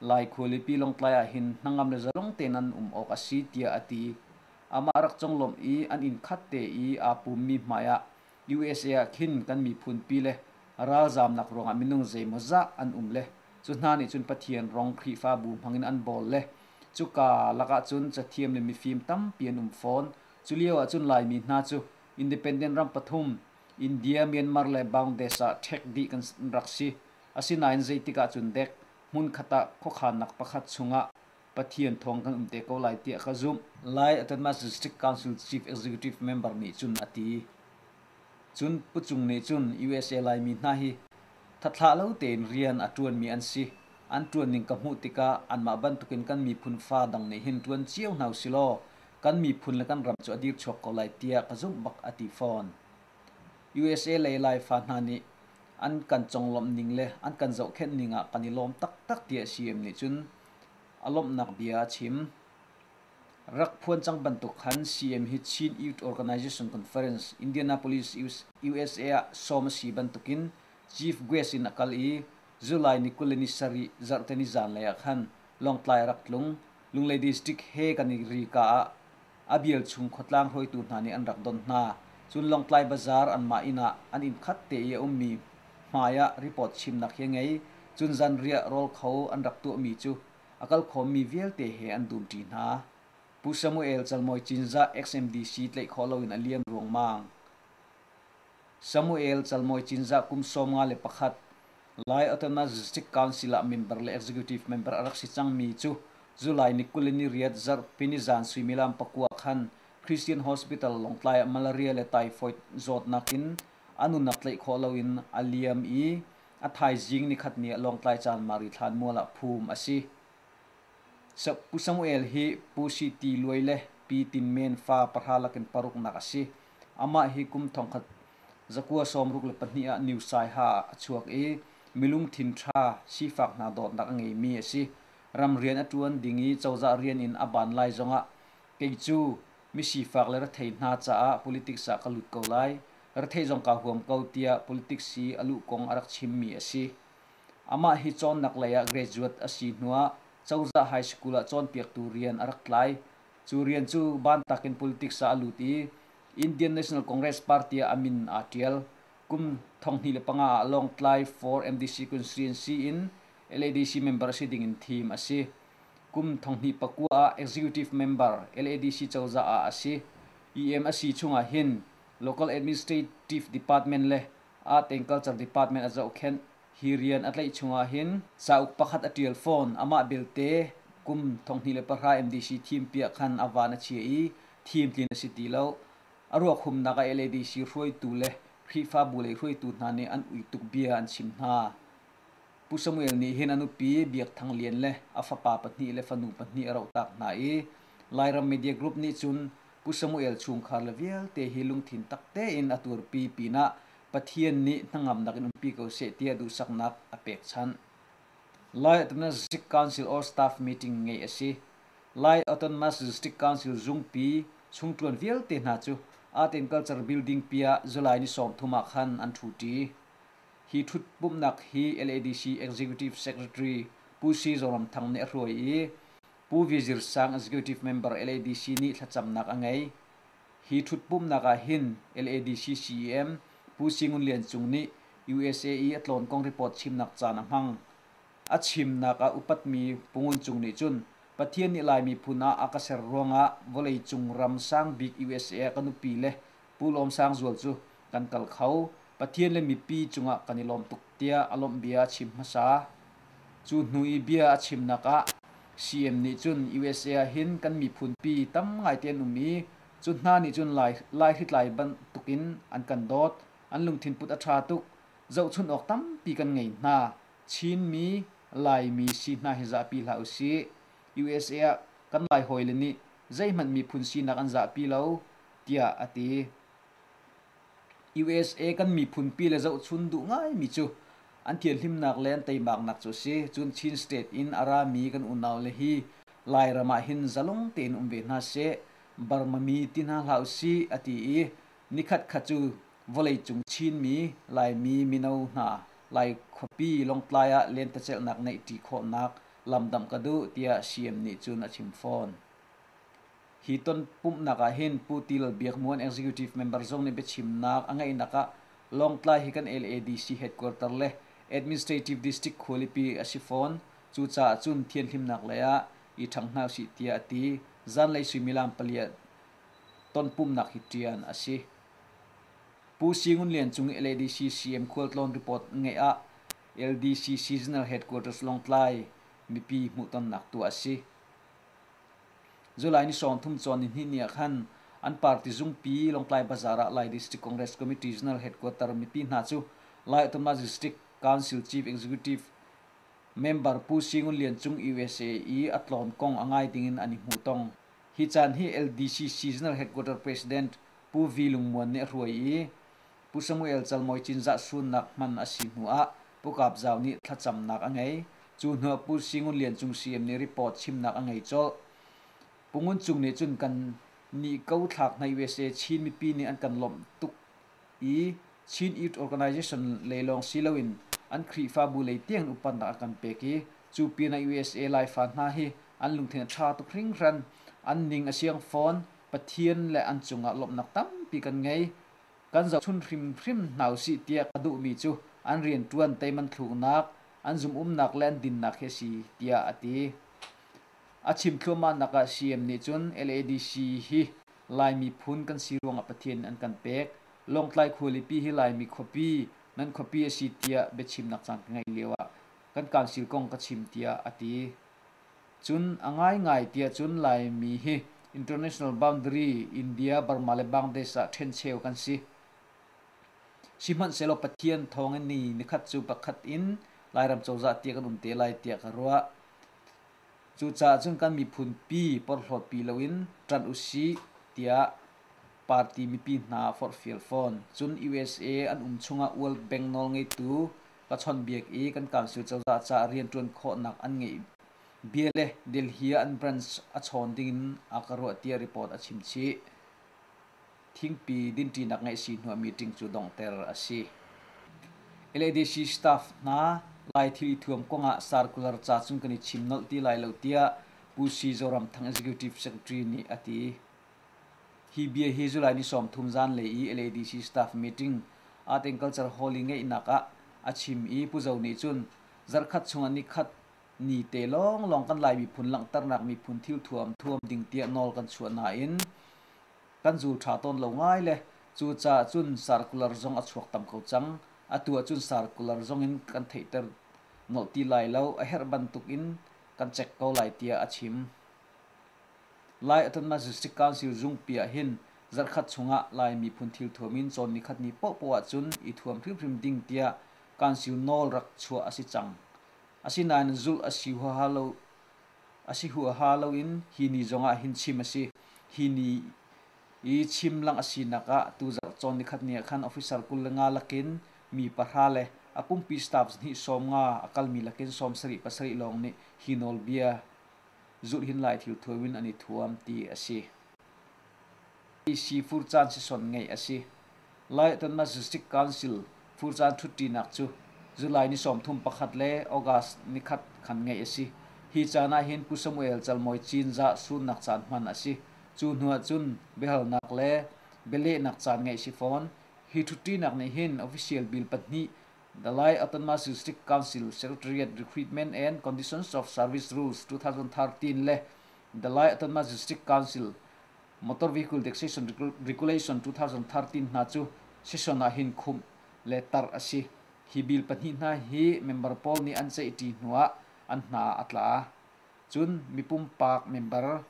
Lai khualipi Lawngtlai ah hin hnangam le zalong tein an um awk a si tiah a ti. Amah rak conglawmh i an inn khat te i aa pummi hmaiah USA ah khin kan miphunpi le ralzaamnak ruangah minung zeimawzah an um le cu hna nih cun Pathian rong Khrihfabu hmangin an bawl le cuka lakah cun cathiam le mifim tampi an um fawn. Cu lio ahcun Laimi hna cu independent ram pathum India, Myanmar le Bangladesh ah ṭhek dih kan rak si. Asinain zeitik ahcun dek hmunkhat ah khuakhannak pakhat chungah Pathian thawng kan um te ko lai tiah ka zumh, Lai Atanmas District Council Chief Executive Member nih cun a ti. Cun Pu Cung nih cun usa Laimi hna hi thathlah lo tein rian a ṭuanmi an si, an ṭuanning ka hmuh tikah anmah bantukin kan miphun fa dang nih hin ṭuan cio hna usilaw kan miphun le kan ram cu a dir chuak ko lai tiah ka zumh bak a ti fawn. USA le Laifa hna nih an kan conglawmh ning le an kan zohkhenh ning ah kan i lawm taktak ti a si em nih cun a lawmhnak bia a chim. Rak phuan cang bantuk khan CM hi Chin Youth Organization Conference Indianapolis, USA ah sawm a si bantukin Chief Guest in a kal i July ni kul le ni sarih zarhte ni zanlei ah khan Lawngtlai rak tlung, Lunglei District he kan i ri ka ah a bialchung khuatlang hruaitu hna nih an rak don hna. Cun Lawngtlai Bazaar anmah inn ah an inn khat te i a ummi hmai ah report chimnak hi a ngei. Cun zanriah rawl kho an rak tuahmi cu a kal khawmmi vialte he an dumṭi hna. Pu Samuel Calmawi Cinzah, XMDC tlaih khawh loin a liam ruangmang. Samuel calmawi cinzah kum sawmnga le pakhat Lai Autonomous District Council ah member le executive member a rak si cangmi cu July ni kul in ni riat zarh pinizan suimilam pakua khan Christian Hospital Lawngtlai ah malaria le typhoid zawtnak in a nunnak tlaih khawh loin a liam i a thaizing nikhat ni ah Lawngtlai Chanmari thlanmual ah phum a si. Pu Samuel hi Pu Siti Luai le Pi Tin Men fa pahra lakin paruknak a si. Amah hi kum thongkhat zakua sawmruk le pahnih ah New Saiha ah a chuak i milungthin ṭha, sifak hna dawtnak a ngeimi a si. Ram rian a ṭuan ding i cozah rian in a ban lai zongah kei cu misifak le rethei hna caah politics ah ka lut ko lai, rethei zong kaa huam ko tiah politics i a luh kong a rak chimmi a si. Amah hi cawnnak lei ah graduate a si hnuah cozah high school ah cawnpiaktu rian a rak tlai. Cu rian cu bantak in politics ah a lut i Indian National Congress party ah a min aa ṭial. Kum thonghnih le panga ah Lawngtlai for MDC constituency in LADC member si dingin thim a si. Kum thonghnih pakua ah executive member LADC cozah ah a si. EM a si chungah hin local administrative department le Agriculture Department a zohkhenh. Hi rian a tlaih chung ahhin cauk pakhat a ṭial fawn. Amah belte kum thonghnih le pahra MDC thim piah khan a van a chia i thim tlin a si ti lo. A ruakhumnak ah LADC hruaitu le Khrihfabu lei hruaitu hna nih an ui tuk bia an chim hna. Pu Samuel nih hin a nupi Biak Thang Lian le a fapa pahnih le fanu pahnih a rohtak hna i Lairam Media Group nih cun Pu Samuel chungkhar le vialte hi lungthin tak tein a turpi pinah Pathian nih hnangam nakin umpi ko seh tiah duhsaknak a pek chan. Lai Autonomous District Council or staff meeting ngei a si. Lai Autonomous District Council zungpi chungṭuan vialte hna cu Aten Culture Building piah July ni sawmthum ah khan an ṭhuṭi. Hi ṭhutpumhnak hi LADC Executive Secretary Pu Si Zoram Thang nih a hruai i Pu Vizir Sang Executive member LADC nih thlacamnak a ngei. Hi ṭhutpumnak ah hin LADC CEM Pu Singun Lian Cung nih usa i a tlawn kong report chimnak caan a hmang. A chimnak ah upatmi Pu Ngun Cung nih cun Pathian nih Lai miphun ah a ka ser ruangah vawlei cung ram sang bik usa ah kan upi le Pu Lawm Sang Zual cu kan kal kho. Pathian le mipi cungah kan i lawm tuk tiah a lawmh bia a chim hmasa. Cu hnu i bia a chimnak ah CM nih cun usa ah hin kan miphunpi tam ngaite an um i cu hna nih cun lai, lai hritlai bantuk in an kan dawt. An lungthin put a ṭha tuk. Zohchunh awk tampi kan ngei hna. Chinmi, Laimi si hna hi zahpi hlah usih. Usa ah kan Lai hawile nih zeihmanh miphun sinak an zahpi lo. tiah a ti. USA kan miphunpi le zohchun duh ngaimi cu an thianhlimnak le an teimaknak cu a si. Cun Chin State in a rami kan unau le hi Lairam ah hin zalong tein um ve hna seh, Burmami ti hna hlah usih a ti i nikhatkhat cu vawleicung Chinmi, Laimi mino hna Lai khuapi lawngtlai ah lentecelhnak ngeihṭi khawhnak lamdamh ka duh tiah CM nih cun a chim fawn. Hi ton pumhnak ah hin Pu Til Biakmuan Executive Member zong nih biachimnak a ngeihnak ah Lawngtlai hi kan LADC headquarter le Administrative District khualipi a si fawn. Cucaah cun thianhlimnak lei ah i ṭhang hna usih tiah a ti. Zanlei suimilam pali ah tonpumhnak hi ṭian a si. Pu Si Ngun Lian Cung i LADC CM khualtlawn report ngeih ah LDC Seasonal Headquarters Lawngtlai mipi hmuhtonnak tuah a si. July ni sawmthum cawn nihnih ni ah khan an party zungpi Lawngtlai Bazaar ah Lai District Congress Committee Regional Headquarter mipi hna cu Lai Tumnak District Council Chief Executive member Pu Si Ngun Lian Cung USA i a tlawn kong a ngai dingin an i hmuh tong. Hi caan hi LDCC General Headquarter President Pu Vi Lung Muan nih a hruai i Pu Samuel Calmawi Cinzah suunnak hman a si hnu ah Pu Kap Zau nih thlacamnak a ngei. Cu hnu ah Pu Si Ngun Lian Cung CM nih report chimnak a ngei colh. Pu Ngun Cung nih cun kan nih ko thlak hnai usa Chin mipi nih an kan lawmh tuk i Chin Youth Organization lei lawng si loin an Khrihfabu lei tiang in upatnak a kan pek i cu pin ah usa Laifa hna hi an lungthin a ṭha tuk hringhran. An ning a siang fawn. Pathian le an cung ah lawmhnak tampi kan ngei. kan zohchunh hrimhrim hna usih tiah ka duhmi cu an rianṭuan teimanthluknak, an zumhumnak le an dinnak hi a si tiah a ti. A chim thluahmahnak ah CM nih cun LADC hi Lai miphun kan si ruangah Pathian nih an kan pek. Lawngtlai khualipi hi Laimi khuapi, nan khuapi a si tiah biachimnak caan ka ngeih lioah kan council kong ka chim tiah a ti. Cun a ngaingai tiah cun Laimi hi international boundary India, Burma le Bangladesh ah ṭhencheu kan si. Sihmanhsehlaw Pathian thawngin ni nikhat cu pakhat in Lairam cozah tiah kan um te lai tiah ka ruah. Cucaah cun kan miphun pi porhlaw pi loin ṭan usih tiah party mipi hna forhfial fawn. Cun USA an um chungah World Bank nawlngeitu ka chawnhbiak i kan council cozah caah rianṭuan khawhnak an ngeih bia le Delhi ah an branch a chawn dingin a ka ruah tiah report a chim chih. Thingpi dinṭinak ngeih si hnuah meeting cu donghter a si. LADC staff hna lai thili thuam kongah circular ca cung kan i chim nolh ti lai lo tiah Pu Si Zoram Thang Executive Secretary nih a ti. Hi bia hi July ni sawmthum zan le i LADC staff meeting Aten Culture Hall i ngeihnak ah a chim i Pu Zo nih cun zarkhat chung ah nikhat ni te lawnglawng kan Lai miphun langhternak miphun thil thuam thuam ding tiah nawl kan chuah nain kan zul ṭha tawn lo ngai le cucaah cun circular zong a chuak tam ko cang. Atu ah cun circular zong in kan theihter nolh ti lai lo, a herh bantuk in kan check ko lai tiah a chim. Lai a tonnak District Council zungpi ah hin zarhkhat chungah Lai miphun thilthuam in cawnmi khatni pohpoh ahcun i thuam hrimhrim ding tiah Council nawl rak chuah a si cang. Asinain zulh a si huaha lo a si huaha loin hi ni zongah hin chim a si. Hi ni i chim lang a sinak ah tu zarh cawn nikhatni ah khan officer kul le nga lakin mi pahra le a pumpi staff hnih sawm nga a kalmi lakin sawm sarih pasarih lawng nih hi nawlbia zulhin-lai thilthuam in an i thuam ti a si. Fur caan sison ngeih a si. Lai Atanna Zuzik Council fur caan ṭhutṭinak cu July ni sawmthum pakhat le August ni khat khan ngeih a si. Hi caan ah hin Pu Samuel Calmawi Cinzah surnak caan hman a si. Cu hnu ah cun biahalnak le bialehnak caan ngeih si fawn. Hi ṭhutṭinak nih hin official bill pahnih The Lai Autonomous-District Council Secretariat Recruitment and Conditions of Service Rules 2013 le The Lai Autonomous-District Council Motor Vehicle Taxation Regulation 2013 hna cu session ah hin khumh le tar a si. Hi bill pahnih hna hi member pawl nih an ceihṭi hnu ah an hna a tla. Cun mi pumpak member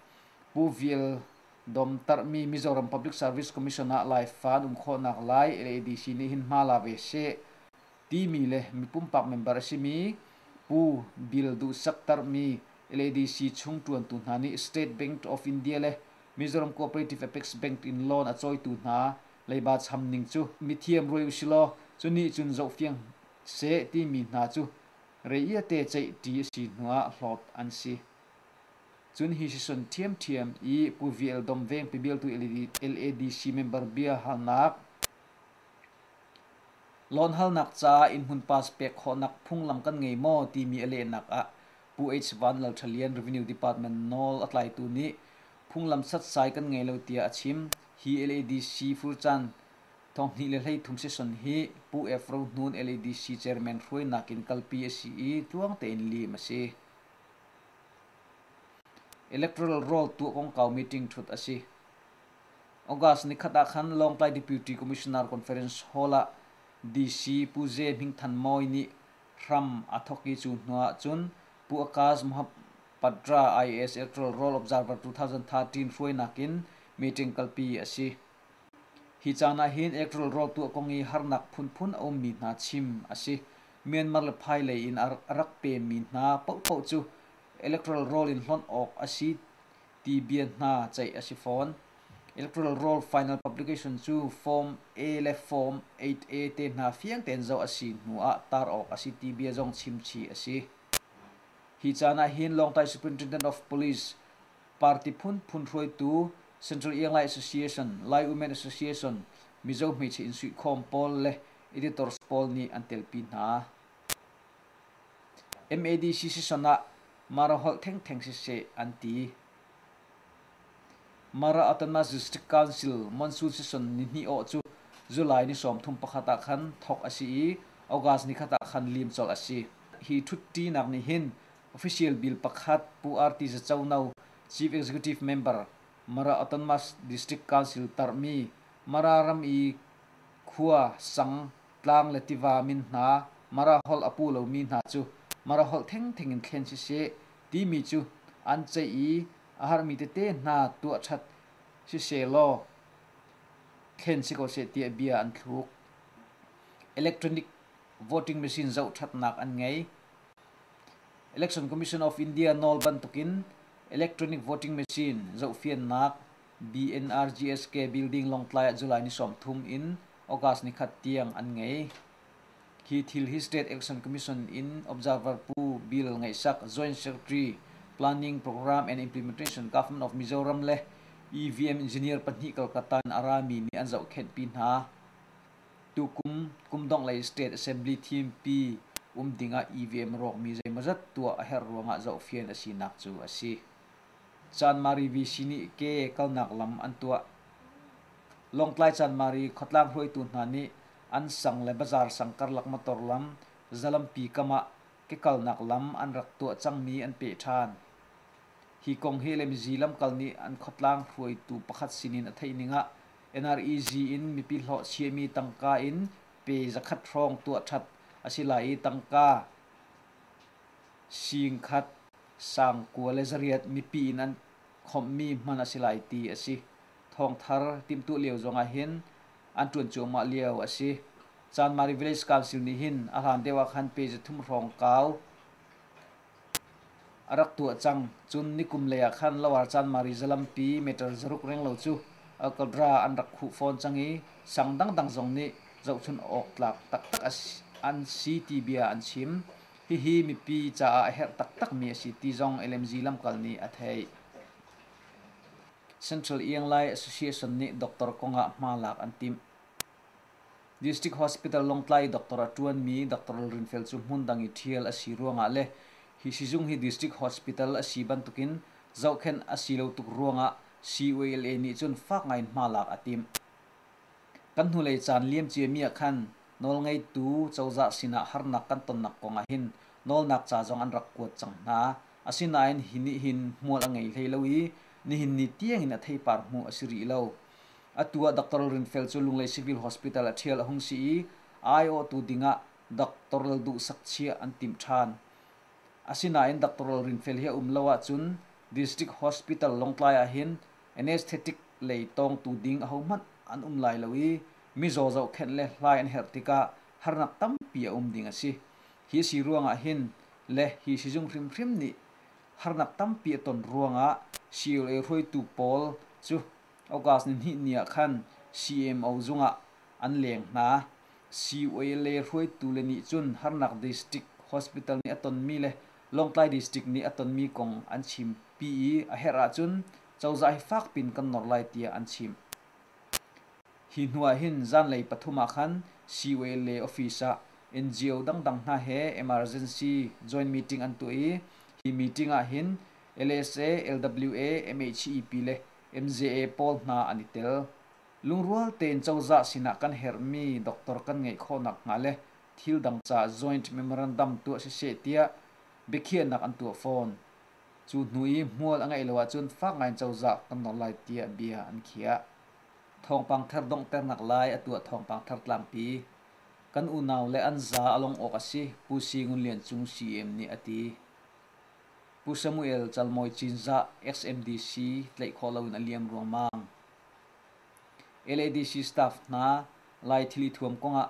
Pu Vial Domtarhmi Mizoram Public Service Commission ah Laifa an um khawhnak lai LADC nih hin hma la ve seh timi le mipumpak member a simi Pu Bill Duh Saktarhmi LADC chung ṭuantu hna nih State Bank of India le Mizoram Cooperative Apex Bank in loan a cawitu hna leiba cham ning cu mithiam ruai usilaw cu nih cun zohfiang seh timi hna cu reiate ceih ṭi a si hnuah hlawt an si. Cun hi hrisuan ṭhiamṭhiam i Pu VL Dom Veng pibiltu LADC member bia halnak, Loan halnak ca innhmun pass pek khawhnak phunglam kan ngei maw timi a lehnak ah Pu H. Van Lal Ṭha Lian Revenue Department nawl a tlaitu nih phunglam satsai kan ngei lo tiah a chim. Hi LADC furcaan thonghnih le hleithum session hi Pu F. Ro Hnun LADC chairman hruainak in kalpi a si i tluang tein liim a si. Electoral roll tuah kongkau meeting thut a si. August ni khat ah khan Lawngtlai Deputy Commissioner Conference Hall ah DC Pu Ze Hming Than Mawi nih hram a thawk i cu hnu ah cun Pu Akaz Mohappatra IAS Electoral Roll Observer 2013 hruainak in meeting kalpi a si. Hi caan ah hin electoral roll tuah kong i harnak phunphun a ummi hna chim a si. Myanmar le phailei in a rak pemi hna paohpaoh cu electoral roll in hlonh awk a si ti bia hna ceih a si fawn. Electoral roll final publication cu Form A le Form 8A te hna fiang tein zoh a si hnu ah tar awk a si ti bia zong chimchih a si. Hi caan ah hin Lawngtai Superintendent of Police party phunphun hruaitu Central Eanglai Association, Lai Women Association, Mizo hmeichia insuihkhawm pawl le editor pawl nih an telpi hna. MAD sisson ah Mara holh thengtheng siseh an ti. Mara Atana District Council monsoon season ni hnih awh cu July ni sawmthum pakhat ah khan thawk a si i August ni khat ah khan liim colh a si. Hi ṭhutṭinak nih hin official bill pakhat Pu RT Zacono Chief Executive Member Mara Atana District Council tarhmi Mara ram i khua, sang, tlang le tiva min hna Mara holh a pu lomi hna cu Mara holh thengtheng in thlen siseh timi cu an ceih i a harmi tete hna tuahṭhat siseh law thlen si ko seh tiah bia an thluk. Electronic voting machine zohṭhatnak an ngei. Election Commission of India nawl bantukin electronic voting machine zohfiannak BNRGSK building Longtlai ah July ni sawmthum in August ni khat tiang an ngei. Hi thil hi State Action Commission in Observer Pu Bill Ngaihsak Joint Secretary Planning Program and Implementation Government of Mizoram le EVM engineer pahnih Kolkata in a rami nih an zohkhenh pi hna. Tukum kumdongh lei State Assembly thim pi um ding ah EVM rawkmi zeimawzat tuah a herh ruangah zohfian a sinak cu a si. Chanmari VC nih ke kalnak lam an tuah. Lawngtlai Chanmari khuatlang hruaitu hna nih an sang le bazar sang karlak motor lam zalampi kam ah kekalnak lam an rak tuah cangmi an peh ṭhan. Hi kong hi Lemzi lamkal nih an khuatlang hruaitu pakhat sinin a theih ning ah NREG in mipi hlawh chiami tangka in pe zakhat hrawng tuah ṭhat a si lai i tangka Singkhat, sangkua le zariat mipi in an khawmhmi hman a si lai ti a si. Thawngthar timhtuah lio zongah hin an ṭuan cuahmah lio a si. Chanmari Village Council nih hin a hlan deuh ah khan page thum hrawng kau a rak tuah cang. Cun nikum lei ah khan Lower Chanmari zalampi meter zaruk renglo cu Akkodra an rak khuh fawn cang i sang dangdang zong nih zohchunh awk tlak taktak an si ti bia an chim. Hihi mipi caah a herh taktakmi a si ti zong LMZ lamkal nih a theih. Central Ianglai Association nih doctor kong ah hma lak an timh. District Hospital Lawngtlai doctor a ṭuanmi Doctor Lalrinfel cu hmundang i ṭhial a si ruangah le hi sizung hi District Hospital a si bantukin zohkhenh a si lo tuk ruangah CUALA nih cun fak ngaiin hma lak a timh. Kan hnulei caan liamciami ah khan nawlngeitu cozah sinah harnak kan tonnak kong ah hin nawlnak ca zong an rak kuat cang hna. Asinain hi nih hin hmual a ngei hlei lo i nihin ni tiang in a theipar hmu a si rih lo. Atu ah Dr. Rinfel cu Lunglei Civil Hospital ah ṭhial a hung si i aiawhtu ding ah Doctor Lal Duhsak chiah an timh ṭhan. Asinain Doctor Lal Rinfel hi a um lo ahcun District Hospital Lawngtlai ah hin anesthetic lei tawngtu ding ahohmanh an um lai lo i mizaw zohkhenh le hlai an herh tikah harnak tampi a um ding a si. Hi a si ruangah hin le hi sizung hrimhrim nih harnak tampi a ton ruangah COA hruaitu pawl cu August ni hnih ni ah khan CMO zung ah an leng hna. COA le hruaitu le nih cun harnak district hospital nih a tonmi le Lawngtlai District nih a tonmi kong an chim pi i a herh ahcun cozah hi fak piin kan nawr lai tiah an chim. Hi hnu ah hin zanlei pathum ah khan COA office ah NGO dangdang hna he emergency joint meeting an tuah i hi meeting ah hin LSA, LWA, MHEP le MZA pawl hna an i tel. Lungrual tein cozah sinah kan herhmi doctor kan ngeih khawh nakhnga le thil dang caah joint memorandum tuah siseh tiah biakhiahnak an tuah fawn. Cu hnu i hmual a ngeih lo ahcun fak ngaiin cozah kan nawl lai tiah bia an khiah. Thawngpang thar donghternak lai a tuah thawngpang thar tlangpi. Kan unau le an za a lawng awk a si, Pu Si Ngun Lian Cung CM nih a ti. Pu Samuel Calmawi Cinzah XMDC tlaih khawh loin a liam ruangmang. LADC staff hna Lai thili thuam kongah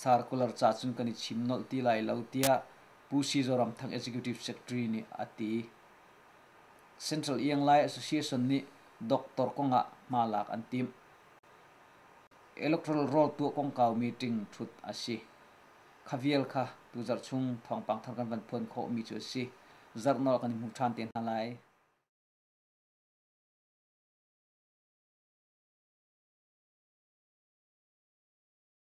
Sarkular ca cun kan i chim nolh ti lai lo tiah Pu Si Zoramthang Executive Secretary nih a ti. Central Ianglai Association nih doctor kong ah hma lak an timh. Electoral roll tuah kongkau meeting thut a si. Khavial kha tu zarh chung thawngpang thar kan van phuan khawhmi cu a si. Zarh nawl kan i hmu ṭhan te hna lai.